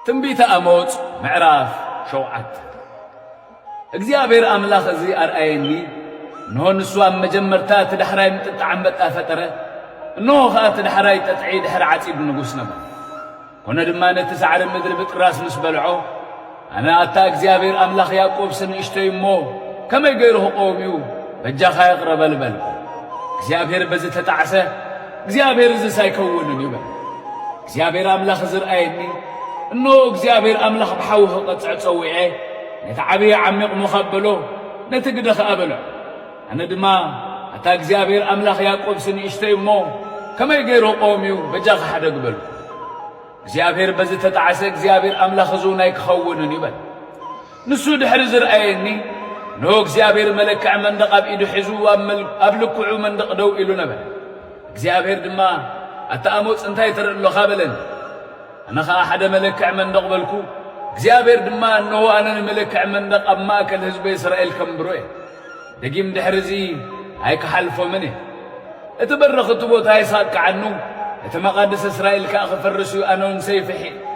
ትንቢተ ኣሞጽ ምዕራፍ ሸውዓተ እግዚኣብሔር ኣምላኽ እዚ ኣርኣየኒ፣ እንሆ ንሱ ኣብ መጀመርታ እቲ ዳሕራይ ምጥጣዕ ኣንበጣ ፈጠረ፣ እንሆ ኸኣ እቲ ዳሕራይ ጠጥዒ ድሕሪ ዓጺድ ንጉስ ነበረ። ኰነ ድማ ነቲ ሳዕሪ ምድሪ ብጥራስ ምስ በልዖ፣ ኣነ ኣታ እግዚኣብሄር ኣምላኽ ያእቆብሲ ንእሽቶይ እሞ፣ ከመይ ገይሩ ኽቐውም እዩ? በጃኻ ይቕረበል በልኩ። እግዚኣብሄር በዚ ተጣዕሰ፣ እግዚኣብሄር እዝስ ኣይከውንን እዩ በለ። እግዚኣብሄር ኣምላኽ እዚ ርኣየኒ፣ እንሆ እግዚኣብሄር ኣምላኽ ብሓዊ ኽቐጽዕ ጸዊዔ፣ ነቲ ዓብዪ ዓሚቕ ሞኻብ በሎ፣ ነቲ ግደ ኸኣ በልዖ። ኣነ ድማ ኣታ እግዚኣብሄር ኣምላኽ ያእቆብሲ ንእሽቶይ እሞ ከመይ ገይሩ ቁም እዩ በጃኻ ሓደግ በልኩ። እግዚኣብሄር በዚ እተጣዕሰ እግዚኣብሄር ኣምላኽ እዝውን ኣይክኸውንን እዩ በለ። ንሱ ድሕሪ ዝርኣየኒ እነሆ እግዚኣብሄር መለክዒ መንደቕ ኣብ ኢዱ ሒዙ ኣብ ልክዑ መንደቕ ደው ኢሉ ነበረ። እግዚኣብሄር ድማ ኣታ ኣሞጽ እንታይ ትርኢ ኣሎኻ በለኒ። ኣነ ኸኣ ሓደ መለክዒ መንደቕ በልኩ። እግዚኣብሄር ድማ እነሆ ኣነ ንመለክዒ መንደቕ ኣብ ማእከል ህዝበይ እስራኤል ከንብሮ እየ። ደጊም ድሕሪ እዚ ኣይክሓልፎምን እየ። እቲ በረኽቲ ቦታ የሳቅዓኑ፣ እቲ መቓድስ እስራኤል ከኣ ክፈርስ እዩ፣ ኣነውን ሰይፊ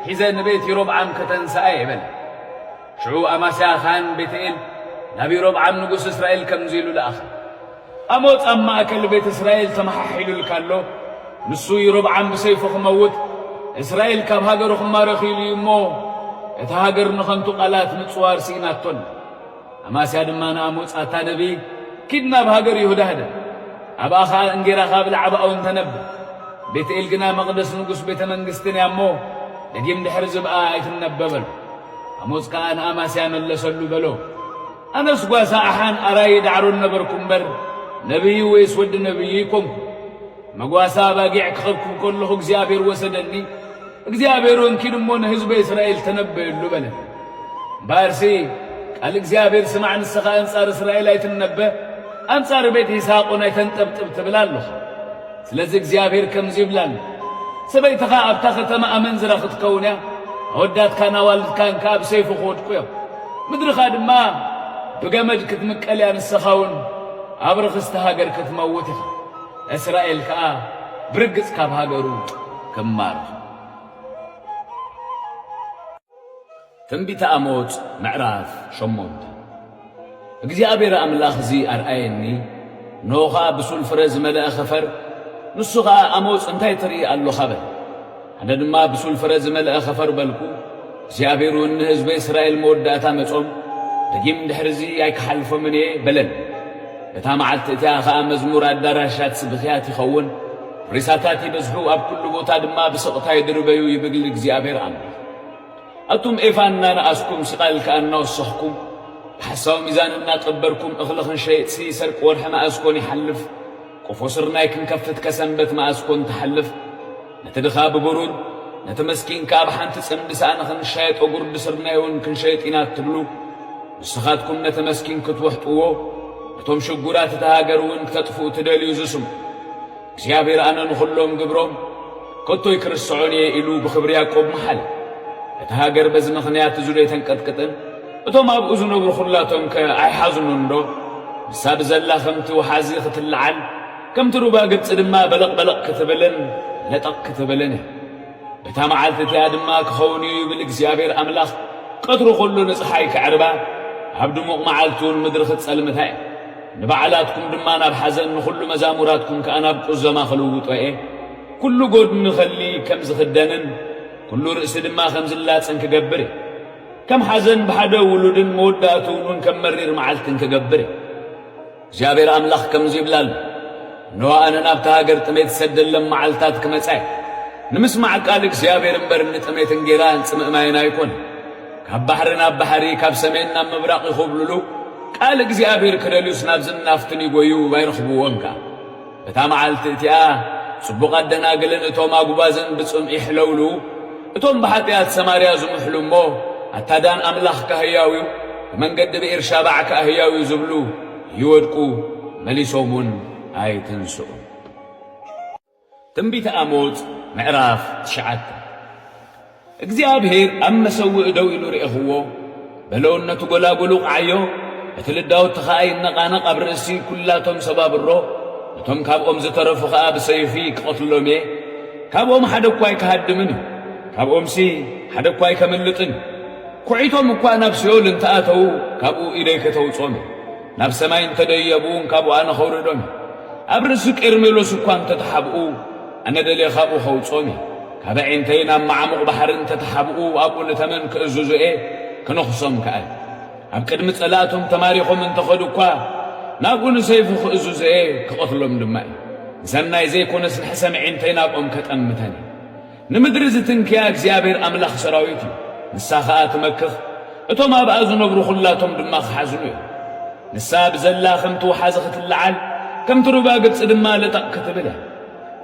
ሒዘ ንቤት ይሮብዓም ከተንስኣ እየ በለ። ሽዑ ኣማስያ ኻህን ቤትኤል ናብ ይሮብዓም ንጉስ እስራኤል ከምዚ ኢሉ ለኣኸ። ኣሞጽ ኣብ ማእከል ቤት እስራኤል ተመሓሒሉልካ ኣሎ፣ ንሱ ይሮብዓም ብሰይፉ ክመውት፣ እስራኤል ካብ ሃገሩ ክማረኽ ኢሉ እዩ እሞ፣ እታ ሃገር ንኸንቱ ቓላት ምጽዋር ስኢናቶ ኣላ። ኣማስያ ድማ ንኣሞጽ፣ ኣታ ነብዪ፣ ኪድ ናብ ሃገር ይሁዳ ህደም፣ ኣብኣ ኸኣ እንጌራ ኻብ እብላዕ ኣብኣውን ተነብር። ቤትኤል ግና መቕደስ ንጉስ ቤተ መንግስትን እያ እሞ፣ ደጊም ድሕርዚ እብኣ ኣይትነበ በሎ። ኣሞጽ ከኣ ንኣማስያ መለሰሉ በሎ፣ ኣነስ ጓሳ ኣሓን ኣራዪ ዳዕሮን ነበርኩ እምበር፣ ነብዪ ወይስ ወዲ ነብዪ ኣይኰንኩን። መጓሰ ኣባጊዕ ክኸብኩብ ከለኹ እግዚኣብሔር ወሰደኒ፣ እግዚኣብሔር እውን ኪድ እሞ ንህዝበ እስራኤል ተነበየሉ በለ። እምበኣርሲ ቃል እግዚኣብሔር ስማዕ፣ ንስኻ ኣንጻር እስራኤል ኣይትነበ፣ ኣንጻር ቤት ይስሓቅ እውን ኣይተንጠብጥብ ትብል ኣለኹ። ስለዚ እግዚኣብሔር ከምዚ ይብል ኣሎ፣ ሰበይትኻ ኣብታ ኸተማ ኣመንዝራ ክትከውን እያ፣ ኣወዳትካን ኣዋልድካን ከኣ ኣብ ሰይፊ ክወድቁ እዮም፣ ምድርኻ ድማ ብገመድ ክትምቀል እያ፣ ንስኻ እውን ኣብ ርኽስቲ ሃገር ክትመውት ኢኻ። እስራኤል ከኣ ብርግጽ ካብ ሃገሩ ክማረኽ። ትንቢተ ኣሞጽ ምዕራፍ ሸሞንተ እግዚኣብሔር ኣምላኽ እዚ ኣርኣየኒ፣ እንሆ ኸኣ ብሱል ፍረ ዝመልአ ኸፈር፣ ንሱ ኸኣ ኣሞጽ እንታይ ትርኢ ኣሎኻ በለ። ኣነ ድማ ብሱል ፍረ ዝመልአ ኸፈር በልኩ፣ እግዚኣብሔርውን ንህዝበ እስራኤል መወዳእታ መጾም፣ ደጊም ድሕርዚ ኣይክሓልፎምን እየ በለን። በታ መዓልቲ እቲኣ ኸኣ መዝሙር ኣዳራሻት ስብኽያት ይኸውን፣ ሬሳታት ይበዝሑ፣ ኣብ ኩሉ ቦታ ድማ ብስቕታ ይድርበዩ ይብል እግዚኣብሔር ኣምላኽ። ኣቱም ኤፋ እናነኣስኩም ስቓል ከኣ እናወሰኽኩም ብሓሳዊ ሚዛን እናቀበርኩም እኽልኽን ሸይጥሲ ሰርቂ ወርሒ መኣስ ኮን ይሓልፍ? ቆፎ ስርናይ ክንከፍት ከሰንበት መኣስ ኮን ትሓልፍ? ነቲ ድኻ ብብሩር፣ ነቲ መስኪን ከኣ ብሓንቲ ጽምዲ ሳእኒ ክንሻየጦ ጉርዲ ስርናይ እውን ክንሸይጥ ኢና እትብሉ፣ ንስኻትኩም ነቲ መስኪን ክትውሕጥዎ፣ ነቶም ሽጉራት እታ ሃገር እውን ክተጥፍኡ ትደልዩ ዝስሙ። እግዚኣብሔር ኣነ ንኹሎም ግብሮም፣ ከቶ ኣይክርስዖን እየ ኢሉ ብኽብሪ ያቆብ መሓለ። እታ ሃገር በዚ ምኽንያት እዚዶ ኣይተንቀጥቅጥን? እቶም ኣብኡ ዝነብሩ ኹላቶምከ ኣይሓዝኑንዶ? ንሳ ብዘላ ኸምቲ ወሓዚ ኽትለዓል፣ ከምቲ ሩባ ግብጺ ድማ በለቕበለቕ ክትብልን ለጠቕ ክትብልን እያ። በታ መዓልቲ እቲኣ ድማ ክኸውን እዩ ይብል እግዚኣብሄር ኣምላኽ፣ ቀትሪ ኹሉ ንጸሓይ ከዕርባ፣ ኣብ ድሙቕ መዓልቲውን ምድሪ ኽትጸልምታ እየ። ንባዕላትኩም ድማ ናብ ሓዘን፣ ንዅሉ መዛሙራትኩም ከኣ ናብ ቍዘማ ኽልውጦ እየ። ኩሉ ጎድኒ ከሊ ከም ዝኽደንን ኩሉ ርእሲ ድማ ከም ዝላጽን ክገብር እየ። ከም ሓዘን ብሓደ ውሉድን መወዳእትኡን እውን ከም መሪር መዓልትን ክገብር እየ። እግዚኣብሔር ኣምላኽ ከምዙይ ይብላ ኣሎ፣ እነሆ ኣነ ናብታ ሃገር ጥሜት ዝሰደለም መዓልትታት ክመጻ እየ። ንምስማዕ ቃል እግዚኣብሔር እምበር ንጥሜት እንጌራን ጽምእ ማይን ኣይኮነን። ካብ ባሕሪ ናብ ባሕሪ ካብ ሰሜን ናብ ምብራቕ ይኹብልሉ፣ ቃል እግዚኣብሔር ክደልዩስ ናብዝን ናፍትን ይጎዩ ኣይረኽብዎን ከኣ። እታ መዓልቲ እቲኣ ጽቡቓት ደናግልን እቶም ኣጕባዝን ብጽምኢ ይሕለውሉ፣ እቶም ብሓጢኣት ሰማርያ ዝምሕሉ እሞ፣ ኣታ ዳን ኣምላኽካ ህያው እዩ፣ ብመንገዲ ብኤርሻባዕ ከኣ ህያው እዩ ዝብሉ ይወድቁ፣ መሊሶም እውን ኣይትንስኡን። ትንቢተ ኣሞጽ ምዕራፍ ትሽዓተ። እግዚኣብሄር ኣብ መሰውኢ ደው ኢሉ ርኤኽዎ፣ በለውነቱ ጐላጕሉ ቐዓዮ፣ እቲ ልዳውቲ ኸኣ ይነቓነቕ ኣብ ርእሲ ኲላቶም ሰባብሮ፣ ነቶም ካብኦም ዝተረፉ ኸኣ ብሰይፊ ክቐትሎም እየ፣ ካብኦም ሓደ እኳ ኣይክሃድምን እዩ፣ ካብኦምሲ ሓደ እኳ ኣይከምልጥን እዩ። ኲዒቶም እኳ ናብ ሲኦል እንተ ኣተዉ፣ ካብኡ ኢደይ ከተውጾም እየ፣ ናብ ሰማይ እንተ ደየቡውን ካብኡ ኣነ ኸውርዶም እየ፣ ኣብ ርእሲ ቄርሜሎስ እኳ እንተ ተሓብኡ፣ ኣነ ደልየ ኻብኡ ኸውጾም እየ። ካብ ኣዒንተይ ናብ መዓሙቕ ባሕሪ እንተ ተሓብኡ፣ ኣብኡ ንተመን ክእዝዙ እየ፣ ክነኽሶም ከኣ እየ። ኣብ ቅድሚ ጸላእቶም ተማሪኾም እንተ ኸዱ እኳ፣ ናብኡ ንሰይፉ ክእዝዞ እየ፣ ክቐትሎም ድማ እየ። ንሰናይ ዘይኰነስ ንሕሰም ኣዒንተይ ናብኦም ከጠምተን እየ። ንምድሪ ዝትንክያ እግዚኣብሄር ኣምላኽ ሰራዊት እዩ፣ ንሳ ኸኣ ትመክኽ፣ እቶም ኣብኣ ዝነብሩ ዅላቶም ድማ ኽሓዝኑ እዮም። ንሳ ብዘላ ኸምቲ ወሓዚ ኽትለዓል፣ ከምቲ ሩባ ግብጺ ድማ ልጠቕ ክትብል እያ።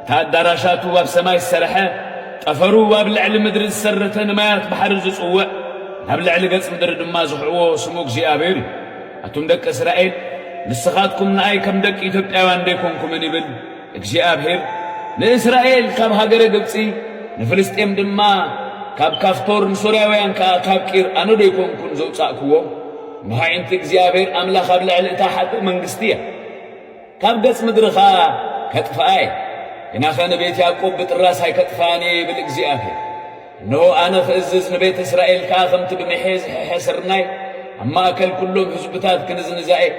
እታ ኣዳራሻቱ ኣብ ሰማይ ዝሰርሐ፣ ጠፈሩ ኣብ ልዕሊ ምድሪ ዝሰረተ ንማያት ባሕሪ ዝጽውዕ፣ ናብ ልዕሊ ገጽ ምድሪ ድማ ዝኽዕዎ ስሙ እግዚኣብሔር እዩ። ኣቱም ደቂ እስራኤል ንስኻትኩም ንኣይ ከም ደቂ ኢትዮጵያውያን ደይኮንኩምን ይብል እግዚኣብሔር። ንእስራኤል ካብ ሃገረ ግብጺ ንፍልስጤም ድማ ካብ ካፍቶር ንሶርያውያን ከኣ ካብ ቂር ኣነ ደይኮንኩን ዘውጻእክዎም? እነሆ ኣዒንቲ እግዚኣብሔር ኣምላኽ ኣብ ልዕሊ እታ ሓጥእ መንግስቲ እያ። ካብ ገጽ ምድሪ ኸኣ ከጥፍኣ እየ፣ ግናኸ ንቤት ያእቆብ ብጥራስ ኣይከጥፍኣን እየ ይብል እግዚኣብሄር። እንሆ፣ ኣነ ኽእዝዝ፣ ንቤት እስራኤል ከኣ ከምቲ ብምሔ ዝሕሐ ስርናይ ኣብ ማእከል ኵሎም ህዝብታት ክንዝንዛ እየ።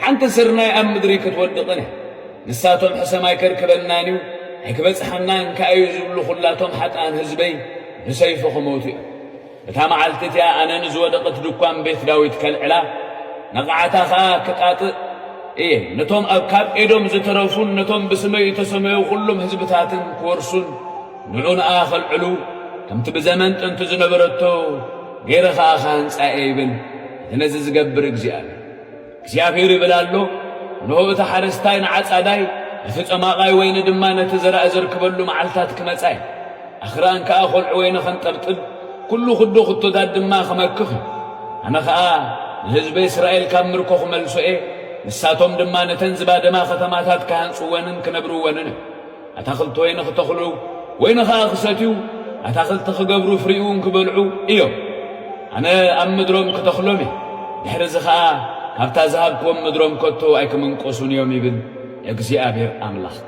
ሓንቲ ስርናይ ኣብ ምድሪ ክትወድቕን እያ፣ ንሳቶም ሕሰም ኣይከርክበናን እዩ፣ ኣይክበጽሓናን ከኣ እዩ ዝብሉ ዅላቶም ሓጥኣን ህዝበይ ብሰይፊ ኽሞቱ እዮም። እታ መዓልቲ እቲኣ ኣነ ንዝወደቕት ድኳን ቤት ዳዊት ከልዕላ፣ ነቓዕታ ኸኣ ክጣጥእ እየ፣ ነቶም ኣብ ካብ ኤዶም ዝተረፉን ነቶም ብስመይ እተሰመዩ ዅሎም ህዝብታትን ክወርሱን ንዑንኣ ኸልዕሉ፣ ከምቲ ብዘመን ጥንቲ ዝነበረቶ ገይረ ኸኣ ክሃንጻ እየ ይብል እቲ ነዚ ዚገብር እግዚኣብሄር። እግዚኣብሄር ይብል ኣሎ፣ እንሆ፣ እቲ ሓረስታይ ንዓጻዳይ፣ ነቲ ጸማቓይ ወይኒ ድማ ነቲ ዘራእ ዘርክበሉ መዓልትታት ክመጻ እዩ። ኣኽራን ከኣ ዀልዑ ወይኒ ኸንጠብጥብ፣ ኵሉ ዅዶ ኽቶታት ድማ ኽመክኽ እዩ። ኣነ ኸኣ ንህዝበይ እስራኤል ካብ ምርኮ ኽመልሶ እየ፣ ንሳቶም ድማ ነተን ዝባደማ ኸተማታት ክሃንጽወንን ክነብርወንን እዮም። ኣታኽልቲ ወይኒ ክተኽሉ፣ ወይኒ ኸኣ ክሰትዩ፣ ኣታኽልቲ ክገብሩ፣ ፍሪኡውን ክበልዑ እዮም። ኣነ ኣብ ምድሮም ክተኽሎም እየ፣ ድሕርዚ ኸኣ ካብታ ዝሃብክዎም ምድሮም ከቶ ኣይክምንቆሱን እዮም ይብል እግዚኣብሄር ኣምላኽካ።